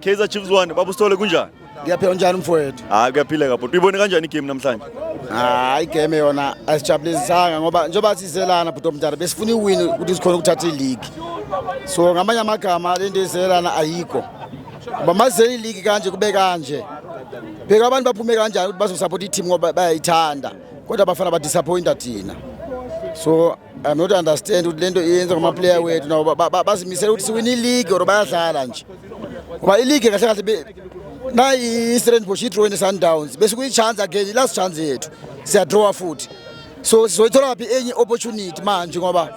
Kaizer Chiefs 1 babusithole kunjani? Ngiyaphila njani mfowethu? Hayi kuyaphileka bhuti. Uyibone kanjani igame namhlanje? Hayi igame yona asijabulisanga ngoba njengoba sizelana bhuti omdala besifuna iwin ukuthi sikhona ukuthatha iligi. So ngamanye amagama lento ezelana ayikho. Ngoba mazele iligi kanje kube kanje. Bheka abantu baphume kanjani ukuthi bazosupport i-team ngoba bayayithanda kodwa abafana badisappointa thina. So I'm not understand ukuthi lento iyenza ngama player wethu nabo bazimisela ukuthi siwina ileague or bayadlala nje ngoba ileague kahle kahle na i-Stellenbosch i-draw ne-Sundowns bese kuyi-chance again i-last chance yethu siyadrawa futhi so sizoyithola phi enye opportunity manje ngoba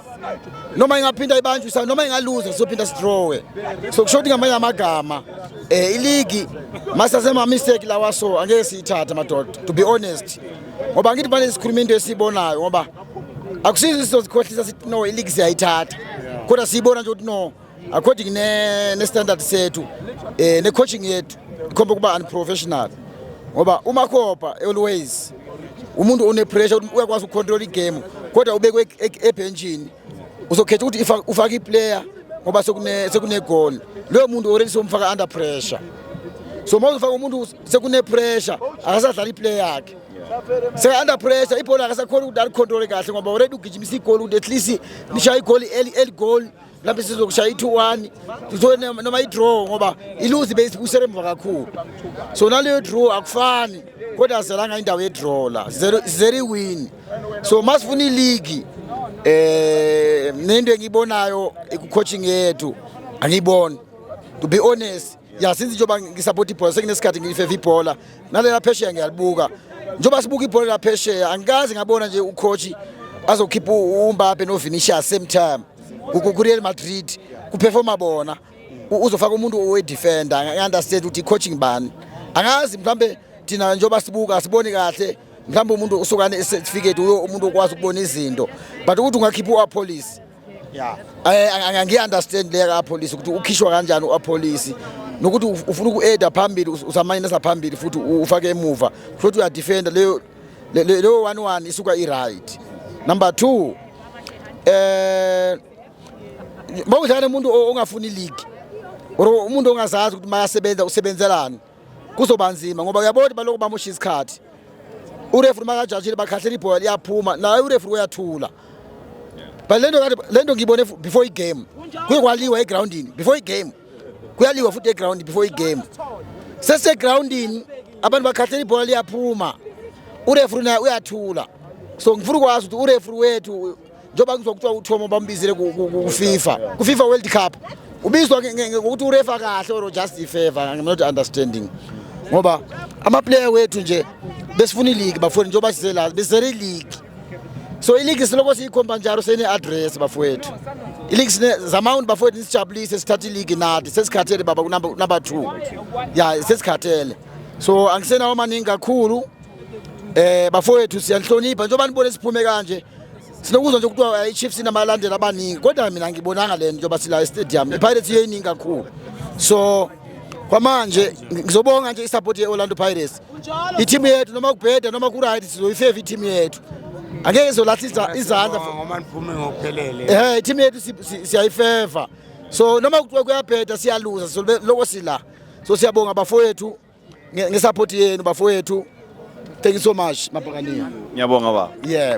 noma ingaphinda ibanjwe noma ingaluza sizophinda sidrawe so kusho ukuthi ngamanye amagama eh iligi masasema mistake lawa so angeke siyithathe madoda to be honest ngoba ngithi manje sikhuluma into esibonayo ngoba akusizo sizozikhohlisa sithi no iligi siyayithatha kodwa siyibona nje ukuthi no according ne-standard sethu um eh, ne-coaching yethu ikhomba ukuba unprofessional ngoba umakhopa always umuntu onepressure uyakwazi ukucontrol igame kodwa ubekwe e-, e-, ebhentshini uzokhetha ukuthi ufake iplayer ngoba sekunegoli loyo muntu already somfaka under pressure so uma uzofaka umuntu sekune pressure akasadlala iplayer yakhe seka-under pressure ibhola akasakhona ukuthi alikhontrole kahle ngoba already ugijimisa igoli ukuthi at least nishaya igoli eligoli lapho sizokushaya i-two one noma i-draw ngoba iluzi beyisibusela emva kakhulu so naleyo draw akufani kodwa sizelanga indawo ye-draw la sizele iwini so masifuna iligi um nento engiyibonayo ikucoaching yethu angiyiboni to be honest ya since njengoba ngisapota ibhola sekunesikhathi ngilifeva ibhola nalela phesheya ngiyalibuka njengoba sibuka ibhola laphesheya angikaze ngabona nje ucoach azokhipha uMbappe noVinicius same time kuReal Madrid kuperforma bona uzofaka umuntu owedefender angi-understand ukuthi i-coaching bani angazi mhlawumbe thina njengoba sibuka siboni kahle mhlawumbe umuntu usukane certificate umuntu okwazi ukubona izinto but ukuthi ungakhipha u-apolice ya eh, angiyi-understand leya kapolisi ukuthi ukhishwa kanjani uapolisi nokuthi ufuna uku-eda phambili usamanyenesa phambili futhi ufake emuva futhi uyadefenda leyo leyo one one isuka i-right number two eh mawudlala umuntu ongafuni league or umuntu ongazazi ukuthi mayasebenza usebenzelani kuzoba nzima ngoba uyabona ukuthi balokhu bamosha isikhathi urefri makajajile bakhahlela ibhola liyaphuma naye urefri uyathula but lento kade lento ngiyibone before igame kuye kwaliwa egroundini before igame kuyaliwa futhi eground before igame sesegroundini abantu bakhahlela ibhola liyaphuma urefri naye uyathula so ngifuna ukwazi ukuthi urefri wethu njengoba ngizwa kuthiwa uThomo bambizile kuFifa kuFifa World Cup ubizwa ngokuthi urefa kahle or just ifavor I'm not understanding ngoba amaplayer wethu nje besifuna ileague bafuni njengoba size la besere league so ileague siloko siyikhomba njalo sene address bafowethu ileague sine zamount bafowethu nisijabulise sithatha ileague nathi sesikhathele baba kunamba 2 ya sesikhathele so angisenawo maningi kakhulu Eh bafowethu siyanhlonipha njengoba nibone siphume kanje sinokuzwa nje kuthiwa eh, iChiefs inamalandela abaningi kodwa mina ngibonanga le nto yoba sila estadium iPirates iyeyiningi kakhulu so kwamanje ngizobonga nje isupport ye-orlando pirates i-team yethu noma kubheda noma kuright sizoyifeva i-team yethu angeke izolahlisa izandla um i-team yethu siyayifeva so noma kuthiwa kuyabheda siyaluza so loko sila so siyabonga bafowethu ngesupport yenu bafowethu thank you so much mabhakaniya ngiyabonga baba yeah